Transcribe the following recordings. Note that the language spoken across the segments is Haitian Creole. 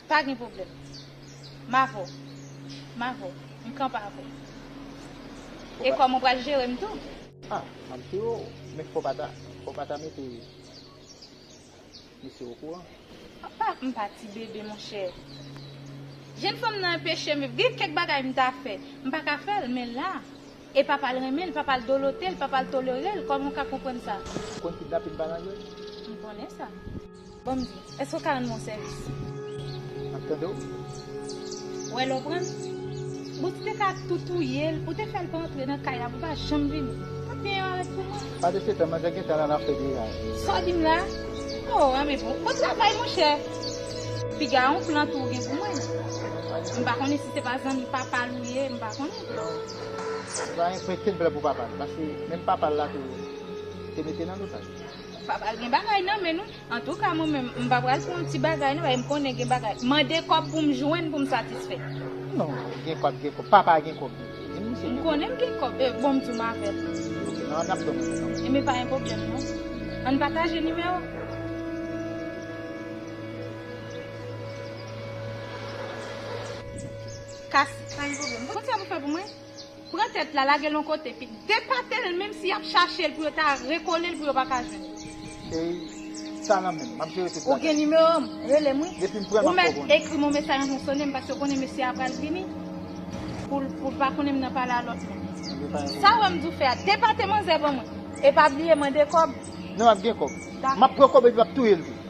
Pa gen pwoblèm. M avè w. M avè w. M kanpe avè w. E kòman w pral jere m tou? Ah, map jere w. Men fò w pa ta, fò w pa ta mete misye okouran. Apa m pa ti bebe monchè. Jenn fanm nan enpeche m. Gen kèk bagay m ta fè. M pa ka fè l, men la. E papa l renmen l, papa l dolote l, papa l tolere l, kòman w ka konprann sa? Ou konn kidnapin pa nan jwèt? M konnen sa. Banm di. Eske ou ka rann mwen sèvis? Map tande w. Wè lè w pran l. Bon tu te ka tou touye l, ou te fè l pa antre nan kay la pou l pa janm vini. Mwen byen yo arèt pou mwen. Pa de se tan mwen te gentan la nan fè deja yo. Sa w di m la? Oh anmè bon. Bon travay monchè. Piga yon plan tou ou gen pou mwen. M pa konnen si se pa zanmi papa l ou ye, m pa konnen. Mwen te gen plan pou papa l. Paske menm papa l la tou te mete l an otaj. Pa pral gen bagay nan men nou. Antouka mwen menm m pa pral fè yon ti bagay nan, paske m konnen gen bagay. Mande kòb pou m jwenn pou m satisfè. Non, gen kòb, gen kòb. Papa a gen kòb tou. Di m misye gen kòb. M konnen m gen kòb. Bon, m di w m avè l. Ok, nan nap dòmi menm nan. Enben pa gen pwoblèm non. An n pataje nimewo. Kasi, pa gen pwoblèm. Konn sa pou fè pou mwen? Pran tèt la lage l yon kote epi depate l menm si y ap chache l pou yo ta rekole l pou yo pa ka jwenn li. Ey sa nan menm, m ap jere tout bagay. Ou gen nimewo m, rele m wi. Depi m pran l m ap fè w konnen. Ou mèt ekri m yon mesaj anvan w sone m paske ou konnen mesye a pral vini pou l pou l pa konnen m nan pale a lòt moun. Sa ou wè m di w fè a, depate manzè ban mwen e pa bliye mande kòb. Non m ap gen kòb. M ap pran kòb epi m ap touye l tou.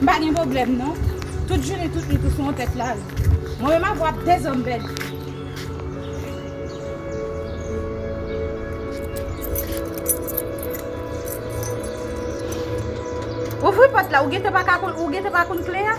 M pa gen pwoblèm non. Tout jounen tout nwit ou sou yon tèt laj. Mwen menm avè w ap dezòm bèt. Ouvri pòt la, ou gen tan pa ka konn, ou gen tan pa konn kle a?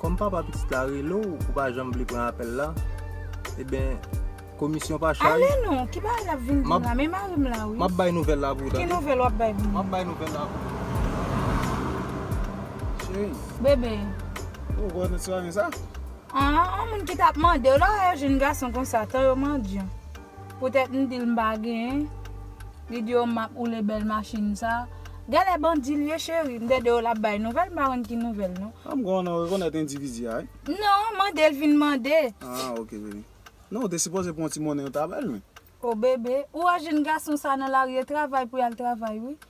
Kòm papa pitit la rele w ou pa janm vle pran apèl la, eben komisyon pa chay. Ale non, ki bagay lap vin di m la, men mari m la wi. Map bay nouvèl la pou ou tande. Ki nouvèl wap bay pou m? Map bay nouvèl la pou ou. Cheri. Bebe. Ou wè nou swa men sa? An, an moun ki tap mande w la, lè yo jwenn gason konsa, tan yo mandyan. Poutèt m dil m pa gen, li di yo map woule bèl machin sa. Gèlè bandi l ye cheri, m tande yo lap bay nouvèl m pa konn ki nouvèl non. An m kwè w nan rekonèt endividi a wi. Non, mande l vin mande. Ah ok baby. Non ou te sipoze pran yon ti monnen yo ta bel wi. Oh bebe, ou wè jenn gason sa nan lari e travay pou yal travay wi.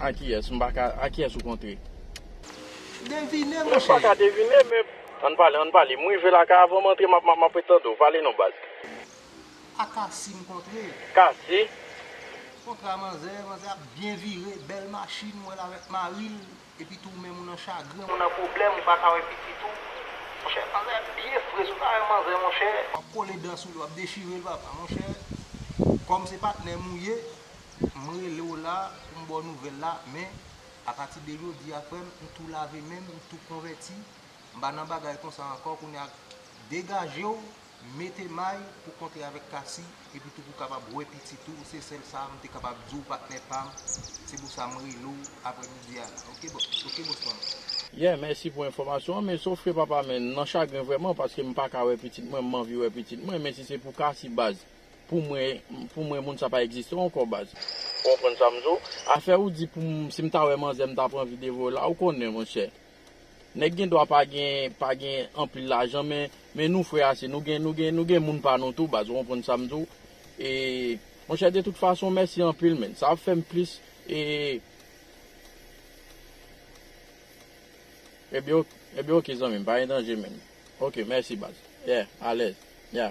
Akiyès, m pa ka, akiyès ou kontre? Devine monchè! M pa ka devine men. Ann pale, ann pale. M rive la kay avan m antre, m ap, m ap ret tande w. Pale non baz. A Kasi m kontre. Kasi? Kontra manzè, manzè ap byen vire, bèl machin, m wè l avèk mari l, epi tou ou menm ou nan chagren, ou nan pwoblèm, ou pa ka wè pitit ou. Monchè, manzè a byen fre, si w ta wè manzè monchè. W ap kole dan sou li, w ap dechire l papa. Monchè, kòm se patnè m ou ye, M rele w la pou m ba w nouvèl la, men, apati de jodi a, frè m, m tou lave men m, m tou konvèti, m pa nan bagay konsa ankò, kounye a, degaje w, mete may, pou w kontre avèk Cassie, epitou pou w kapab wè pitit ou, se sèl sa m te kapab di w, patnè pa m, se pou sa m rele w aprè midi a la, ok, ok, bòs pa m. Yeah, mèsi pou enfòmasyon an, men, sofke papa, men, m nan chagren vrèman, paske m pa ka wè pitit mwen, m anvi wè pitit mwen, men si se pou Cassie, baz, Pou mwen pou mwen moun sa pa egziste ankò baz. Ou konprann sa m di w? Afè ou di pou m si m ta wè manzè m ta pran videyo la ou konnen monchè. Nèg gen dwa pa gen pa gen anpil lajan men men nou frè ase nou gen nou gen nou gen moun pa nou tou baz ou konprann sa m di w? E monchè de tout fason mèsi anpil menn sa ap fè m plis e Ebyen ok ebyen ok zanmi m pa gen danje menn ok mèsi baz yeah alèz yeah.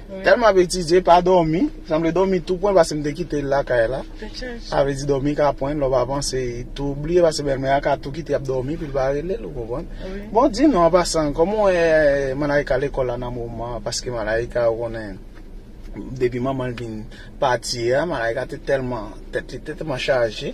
Tèlman ap etidye pa dòmi, sanble dòmi tou pwen paske m te kite l lakay la. Sa vle di dòmi ka pwen l lè w pa panse, e tou bliye paske bèlmè a ka tou kite l ap dòmi epi l pa rele l ou konprann. Bon di nou an pasan, kòman w wè Malaïka lekòl la nan moman an paske Malaïka ou konnen depi manman l vin pati a Malaïka te tèlman, tèt li te tèlman chaje.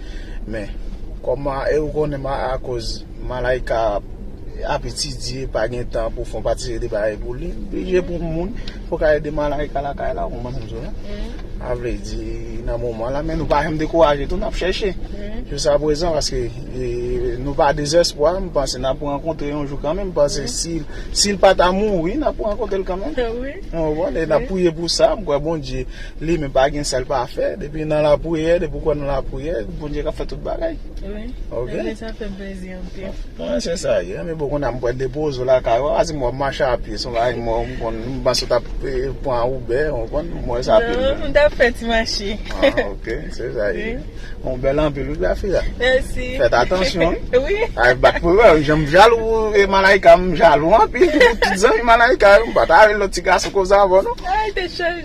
Men, kòm a e ou konnen ma a koz Malaïka ap etidye, pa gen tan pou fon pati seri de bagay pou li, m blije pou moun pou ka ede Malaïka lakay la, ou konprann sa m di w la? Sa vle di nan moman la, men nou pa janm dekouraje tou, n ap chèche jouskaprezan paske nou pa dezèspwa, m panse n ap rankontre yon jou kanmenm, m panse si l pa ta mouri, n ap rankontre l kanmenm ou konprann, e n ap priye pou sa, m kwè Bondye. Li menm pa gen sal pa fè depi nan la priyè depi ou kwè nan la priyè bondye kap fè tout bagay ok mwen se sa ye anmwey boo kounya mwen depoze w lakay ou pa di m wap mache a pye son bagay mwen m konn m panse w tap pran uber ou konn m wè sa non m tap fè ti mache ok se sa ye ou bèl anpil wi grafia mèsi fèt atansyon wi ay bat pou wè jan m jalou e malaika m jalou anpil pou tout zanmi malaika yo m pata rele lòt ti gason konsa avè w non ay te chanje.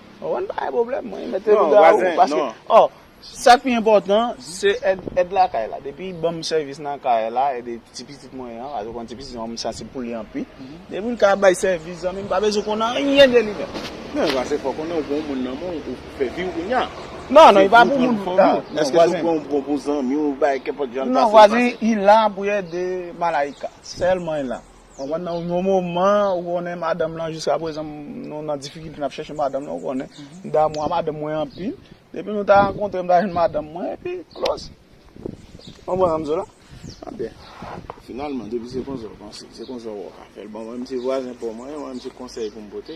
Ou konn pa gen pwoblèm mwen mete nan bouda ou paske o sak pi enpòtan se èd lakay la depi banm sèvis nan kay la e de ti pitit mwen an paske ou konn ti pitit mwen an m sansib pou li anpi depi m ka bay sèvis zanmi m pa bezwen konn anyen de li menm. Nan e pa se fò konnen ou gen yon moun nan men ou fè viw kounya. Non non e pa pou moun nan eske se pou yon bon zanmiw bay kenpòt jan l pase l pase. Non vwazen ila pou ede Malaïka sèlman ila Konprann nan yon moman ou konnen madanm lan jiska prezan nou nan difikilte nap chèche madanm lan ou konnen m damou a madanm mwen anpil depi nou ta rankontre m ta jwenn madanm mwen epi kloz konprann sa m di w la an byen finalman depi se konsa w panse se konsa w wè w ka fè l bon mwen m se vwazen pa w mwen mwen m se konsèy pou m pote.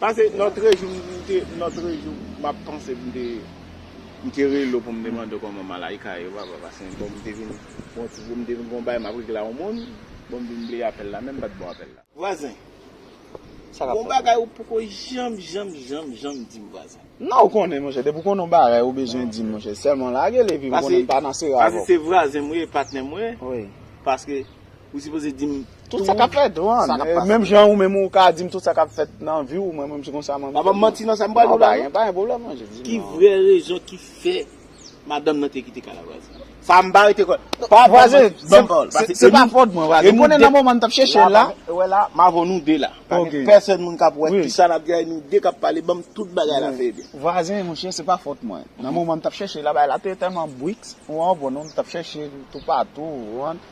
Pase notre jou mte notre jou map panse pou mte mte rele w pou m te mande w kòman Malaïka ye papa pase bon mte vin gon ti jou mte vin gon bagay map regle a yon moun bon m vin bliye apèl la menm pat bon apèl la. Vwazen. Sa kap fèt la. Gon bagay ou poko janm janm janm janm di m vwazen. Nan ou konnen monchè depi w konnen yon bagay ou bezwen di m monchè sèlman lage l epi m konnen m pa nan sera avè w. Pase se vwazen m ou ye patnè m ou ye paske Ou sipoze dim tout sa kap fèt sa kap pase. Menm jan ou menm ou ka dim tout sa kap fèt nan viw mwen menm se konsa mwen. Pa banm manti nan sa m pral diw la non. Pa gen pwoblèm non jezi. Ki vrè rezon ki fè madanm nan te kite Karavwaze. Sa m pa rete kwè. Pa banm manti banm pawòl. Vwaze se pa fòt mwen vwaze. M konnen nan moman m tap chèchel la. Ou wè la m avèw nou 2 la. Pa gen pèsòn moun kap wè kisa nap di a e nou 2 kap pale banm tout bagay la fè ebyen. Vwaze monchè se pa fòt mwen. Nan moman m tap chèchel la bagay la te tèlman briks ou anw bon non m tap chèchel toupatou ou anw.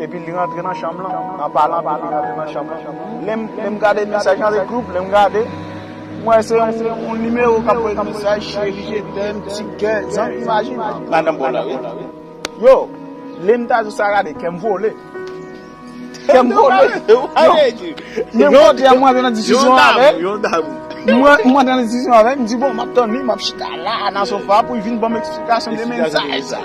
Epi li rantre nan chanm lan, an palan de li rantre nan chanm lan. Lè m gade mesaj nan le group, lè m gade, m wè se yon nimewo k ap voye mesaj, cherie, tèm, ti kè, zanmi imajin. Madan bon la wi. Yo, lè m ta jis sa gade, kè m vole. Kè m vole. Menm kote a m rantre nan diskisyon avè l. Yon dam. M rantre nan diskisyon avè l, m di bon, m ap tann li, m ap chita la, nan sofa pou li vin ban m eksplikasyon de mesaj sa.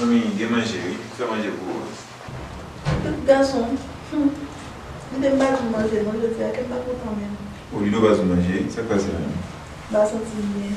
Anmeyy gen manje wi fè manje pou Rose. Tout gason humm Vide m pa di w manje non jodi a kem pa kontan menm. Ou vide w pa di w manje wi sak pase la menm. M pa santi m byen.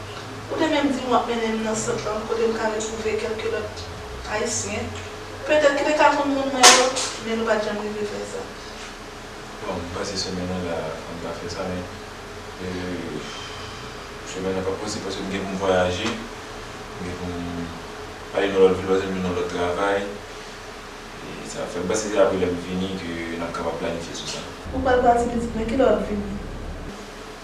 Ou te menm di m w ap mennen m nan sant lan kote m ka retwouve kèlke lòt Ayisyen, petèt ki te ka konn moun mwen yo, men nou pa t janm rive fè sa. Bon, m panse semèn nan la a m ka fè sa, men semèn nan p ap posib paske m gen pou m vwayaje, m gen pou m ale nan lòt vil paske m vin nan lòt travay. E sa ap fè, m panse se apre lè m vini ke n ap kapab planifye sou sa. Ou pral pati pitit, men ki lè w ap vini?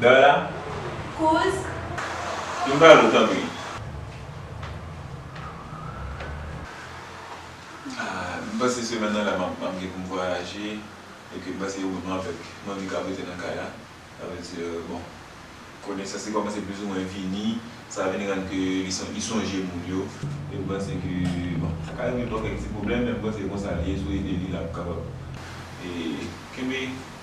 Dara, Kouz. Vin ba nou tanpri. Ahh m panse semèn nan la map gen pou m vwayaje e ke m panse yo menm avèk Monica ap rete nan kay la. Sa vle di bon konesans li kòmanse plizoumwen vini sa vin rann ke li sonje moun yo e m panse ke bon sa ka rive l ba w kèk ti pwoblèm men m panse se konsa li ye si w ede li l ap kapab kenbe.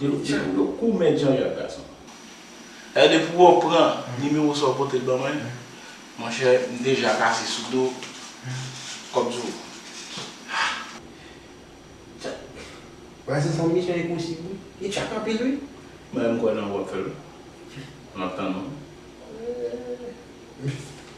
Delo jan ou yo kou mèt jan ou yap gason. Eeh depi wè w pran nimewo sa ou pote l ban mwen monchè m deja pase sou do kòb zo ah. Tchak. Bagay sa sanble misyon enposib wi. Li tchak anpil wi. Mwen menm m kwè nan wap fèl wi. Map tann ou. Eeh.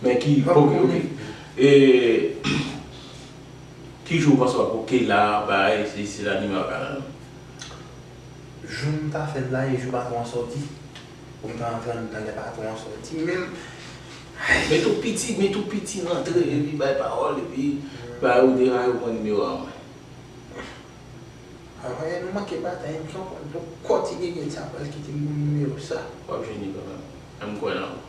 Men ki ok ok e ki jou ou panse wap ok la bay sesi la nimewa kanal ou. Jou m ta fèl la e jou patron an sòti pou m ta antre anndan lè patron an sòti menm ayy. Men tout piti men tout piti rantre epi bay pawòl epi bay ou deraye ou pran nimewa an mwen. Bon e nou manke batay m pran kòd nou kòti gegen sa pral kite m pou nimewo sa. Wap jwenn li kanmèm, em kwè nan ou.